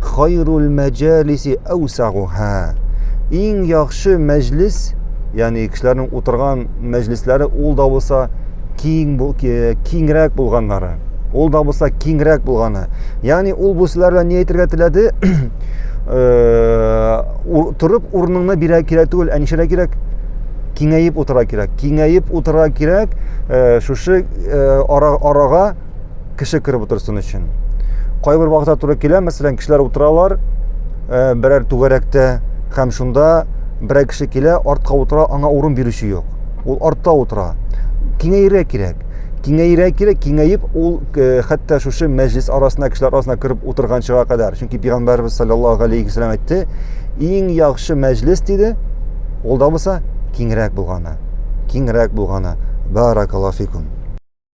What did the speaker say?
Хайрул мәҗалиси әүсагуһа. Иң яхшы мәҗлис, ягъни кешеләрнең утырган мәҗлисләре ул да булса киң киңрәк булганнары. Ул да булса киңрәк булганы. Ягъни ул бу сүзләр белән ни әйтергә теләде? Э, торып урыныңны бирә кирәк түгел, ә нишәрә кирәк? Киңәеп утыра кирәк. Киңәеп утыра кирәк. Э, шушы э, арага кеше кереп утырсын өчен. Кайбер вакытта туры килә, мәсәлән, кешеләр утыралар, э, берәр түгәрәктә һәм шунда берәр кеше килә, артка утыра, аңа урын бирүче юк. Ул артта утыра. Киңәйрә кирәк. Киңәйрә кирәк, киңәеп ул э, хәтта шушы мәҗлис арасына, кешеләр арасына кереп утырганчыга кадәр. Чөнки пәйгамбәрбез саллаллаһу алейхи вәсәлләм әйтте, иң яхшы мәҗлис диде, ул да булса киңрәк булганы, киңрәк булганы. Баракаллаһу фикум.